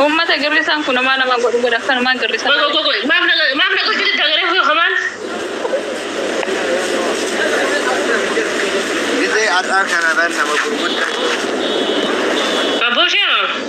Uummata girrisaan kun homaa nama godhu godha akkanumaan girrisa. Gogo gogo maaf na maaf na gochiti dagaree fi homaan. Gizee har'aa kana irra nama gurguddaa. Abboo shee.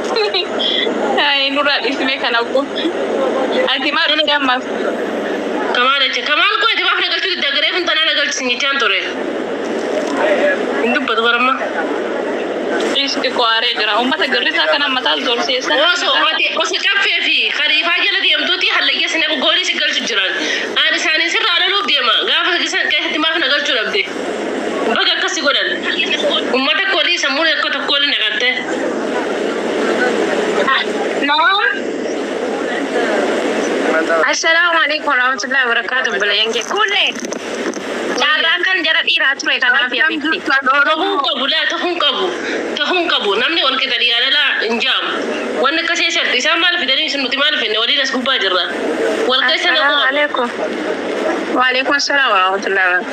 Ay, nurraa dhiisimee kana obbo. Ati maal dhufte ammaaf? Kamaal jecha kamaal koo itti baaf nagalchuu didda garee kun tanaa nagalchisi nyichaan ture. Hin dubbatu baramma. Dhiis xiqqoo aaree jira. Uummata girrisaa kana mataa zorsiisan. Osoo ati osoo caffee fi kariifaa jala deemtuuti hallayya sinee goolii si galchu jiran. Aan isaanii sirraa loluuf deema. Gaafa keessatti maaf nagalchuu dhabde. Baga akkas si godhan. Ummata koodii sammuun akka tokkoo ni naqatte. Assalaamu alaikum warahmatullahi wabarakatuh obboleeyyan kee kulle carraan kan jara dhiiraa ture kanaaf yaa Tahuu beekti. tahuu qabu laa tahuu qabu tahuu qabu namni wal qixa dhiyaadala hin jaamu. Wanni akka ishee sharti isaan maal fidanii isin nuti maal finne waliin as gubbaa jirra. Wal keessa Assalaamu naquu qabu. alaikum. Waalaikum salaam warahmatullahi wabarakatuh.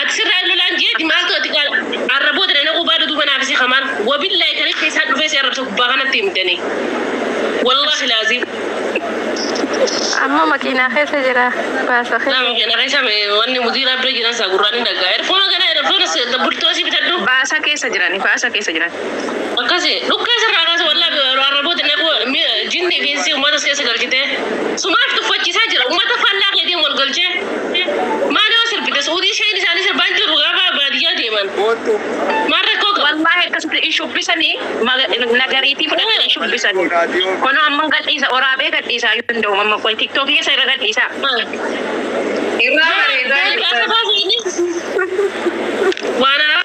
Ati sirraa hin lolaan jeeti maaltu ati gaa arra booda na naquu baadhu duuba naaf isi kamaan wabillahi kan ilka isaan dhufee si arrabsa gubbaa kanatti hin dane wallahi laaziim Amma makiinaa keessa jira. Baasa keessa. nama kana keessa wanni mudiiraa bira jiran isaa gurraan hin dhaggaa erfoona kana erfoona burtoosii bitadhu Baasa keessa jirani. Baasa keessa jirani. akkasi dhukkee sirraa kaasa wallahi arra booda naquu jinni fi insi uummata keessa galchitee sumaaf tuffachiisaa jira uummata faallaa keetiin wal galchee Maa nama sirbite suudii isheen isaanii sirbaa hin jirru gaafa baadiyyaa deeman. Gooddu. Maal rakkoo qaba? Wallahi akkasitti hin shubbisanii maga- nagariitii fudhatanii hin shubbisanii. Kunoo amma gadhiisa oraabee gadhiisaa yoo danda'u amma qoy tiktookii keessa irra gadhiisaa. Irraa bareedaa Gaafa jirtan. baasanii waan haaraa.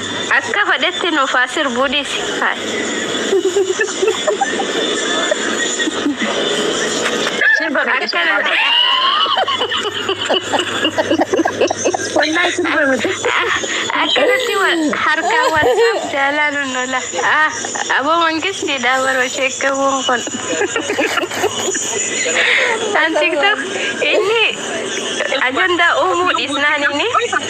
Akka fadhetti nuuf haa sirbuu dhiisi. Sirba miti Akka sirba. namni Wallahi sirba miti. akkanatti wal harkaa wal jaalaa nun lola. Ah, Aboo mangistii dha baroo sheekkaawwan kun. An tiktok inni ajandaa uumuu dhiisnaan inni.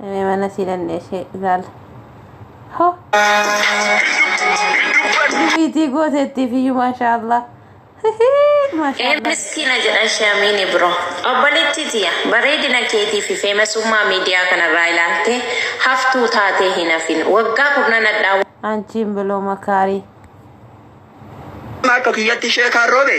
Mee mana sii dhandhee ishee ilaala. Ho! Dubiitii gooteettiif iyyuu maashaa Allah. Maashaa Allah. Miskina jedha shamiini bro. Obboleettii tiya bareedina keetii fi feemasummaa miidiyaa kanarraa ilaaltee haftuu taatee hin hafin. Waggaa kurnan hadhaa Anchiin biloo makaarii. Akka kiyyatti sheekaan roobe.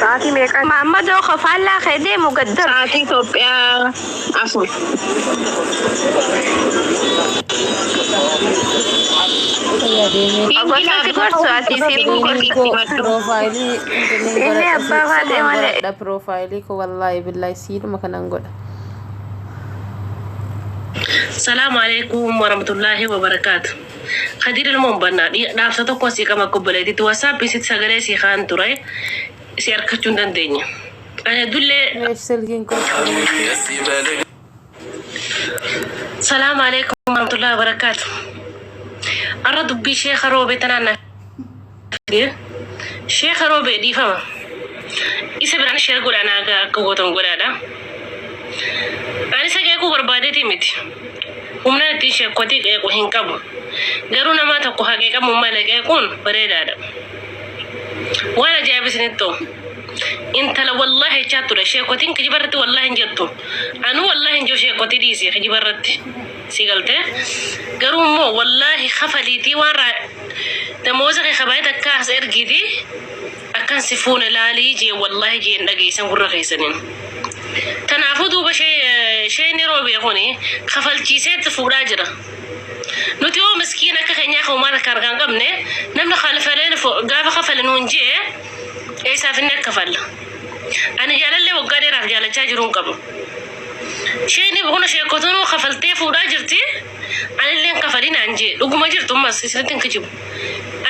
Sa'aatii meeqaa? Maammadoo koo faallaa kee deemu gad darbi. Sa'aatii Itoophiyaa afur. Obboleessi gorsu ati siifuu gorsa. Piroofaayilii Inni inni abbaa baatee malee. godhadha piroofaayilii koo wallaahi billaahi siidhuma kanan godha. Salaamu alaikum warahmatullahi wabarakaatu. Kadiir ilmoon bannaa dhaabsa tokko asii qaba akka obboleetitti wasaapii sitti sagalee sii kaan ture si harkachuu hin dandeenye. Ani addullee Reef silkiin koo qabameetti. Salaam alaikum warahmatullahi wabarakatuh. Arra dubbii sheeka roobe tanaan na Kadir sheeka roobee dhiifama isa biraan sheer godhaa naa gahaa akka gootan godhaadha ani isa qeequu barbaadeeti miti humnaan ittiin sheekkotii qeequ hin qabu garuu namaa tokko haa qeeqamu malee qeequun bareedaadha waan ajaa'iba isinitti ta'u intala wallaahi jechaa ture sheekkotiin kijiba irratti wallaahi hin jettu anuu wallaahi hin jiru sheekkotii dhiisee kijiba irratti Sii galtee garuu immoo wallaahi kafaliitii waan raa damooza kee kabaayee takka as ergiiti akkan si fuune laalii jee wallaahi jeen dhageessan gurra keessaniin. Tanaafuu duuba sheeyni roobee kuni kafalchiiseetti fuudhaa jira. Nuti hoo miskiin akka keenyaa kan uumaa takka argaan qabne namni kalfaleen gaafa kafale nuun jee eessaaf inni akka falla. Ani jaalallee waggaa dheeraaf jaalachaa jiruun qabu. Isheen buna sheekkotuunuu kafaltee fuudhaa jirti. Anillee hin kafalin naan jee. Dhuguma jirtu ammas isinitti hin kijibu.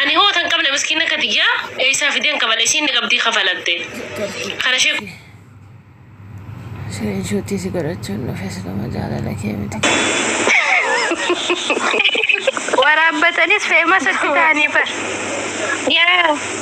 Ani hoo tan qabne miskiina akka tiyyaa eessaa fideen kafala isiin ni qabdii kafalatte. Kana ishee Siree isheetti si godhachuun dhufe siluma jaalala kee miti. Waraabbatanis feemas itti taanii bar. Yaa.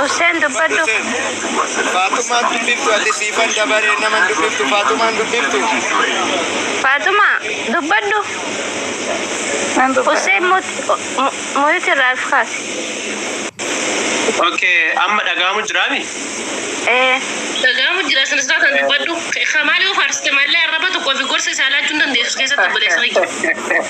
Hussein dubbadhu. Faatumaan dubbiftu ati siifan dabaree naman dubbiftu Faatumaan dubbiftu. Faatuma dubbadhu. Nan dubbadha. Hussein muyuti irraa if kaasi. Okay, amma dhaga'amu jiraami? Ee. Dhaga'amu jira sinis laatan dubbadhu. Kamaali yoo faarsite malee arraba tokkoo fi gorsa isaa laachuu hin dandeessu keessatti obboleessa kiyya.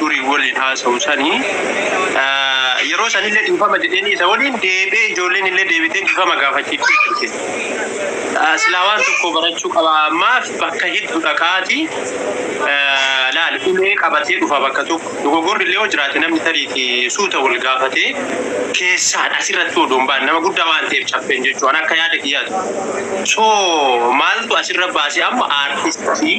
durii waliin haasa'u sani yeroo sanillee dhiifama jedheenii isa waliin deebi'ee ijoolleen illee deebitee dhiifama gaafachiiftee turte. Ah, Silaa waan tokko barachuu qaba maaf bakka hiddu dhaqaati ah, laal ulee qabatee dhufa bakka tokko dogogorri illee yoo jiraate namni tariiti suuta wal gaafatee keessaan asirratti odoo hin baan nama guddaa waan ta'eef caffeen jechuun akka yaada kiyyaatu. So maaltu asirra baase amma aartistii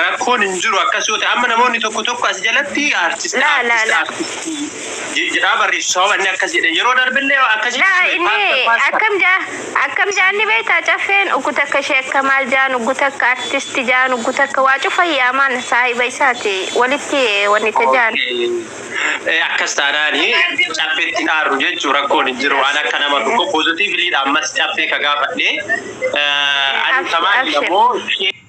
Rakkoon hin jiru akkas yoo ta'e amma namoonni tokko tokko as jalatti artist La, la, artist la. artist je- jedhaa barreessu sababa inni akkas jedhe yeroo darbellee akkas Laa jechuudha. inni Paasta, paasta. akkam jaa akkam jaan ni beektaa caffeen uggu takka ishee akka maal jaan uggu takka artisti jaan uggu takka waa cufa yaamaan saahiba isaati walitti eh, wanni ta jaan. Eh, akkas taanaani caffeetti hin aarru jechuu rakkoon hin jiru waan akka nama tokko poozitiiviliidha ammas caffee ka gaafadhe Eh, ani Abshir, tamaan abshir. immoo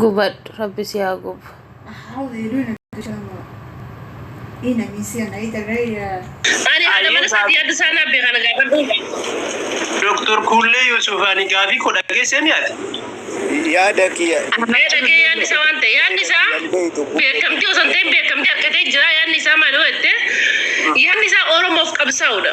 Gubadhu rabbi si haa gubu. Ani haadha mana isaatii adda isaa naaf beekaa nagaa badhuun. Doktor Kuullee Yuusuf ani gaafii koo dhageessee ni ati. yaada kiyya Mee dhagee yaadni isaa waan ta'e yaadni isaa beekamtii osoo hin ta'in beekamtii argatee jira yaadni isaa maal yoo jette yaadni isaa Oromoof qabsaa'udha.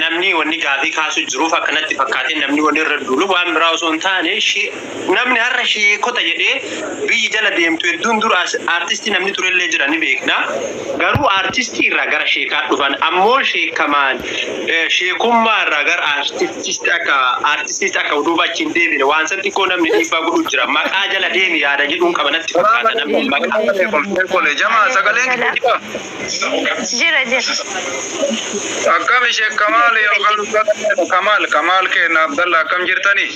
namni wanni gaafii kaasu jiruuf akka natti fakkaatee namni wanni irra duulu waan biraa osoo hin taane namni har'a sheekota jedhee biyyi jala deemtu hedduun dura aartistii namni turellee jira ni beekna. Garuu aartistii irraa gara sheekaa dhufan ammoo sheekamaan sheekummaa irraa gara aartistiitti akka aartistiitti akka duuba achi hin deebine waan san xiqqoo namni dhiibbaa godhu jira maqaa jala deemi yaada jedhuun qaba natti fakkaata namni maqaa. Jamaa sagaleen As jira jira. Akkam ishee Kamaal yookaan Abdalla Kamaal Kamaal keenya Abdalla akkam jirtani?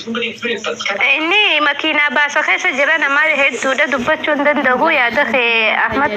Inni makiinaa baasa keessa jira nama hedduudha dubbachuu hin danda'u yaada kee Ahmad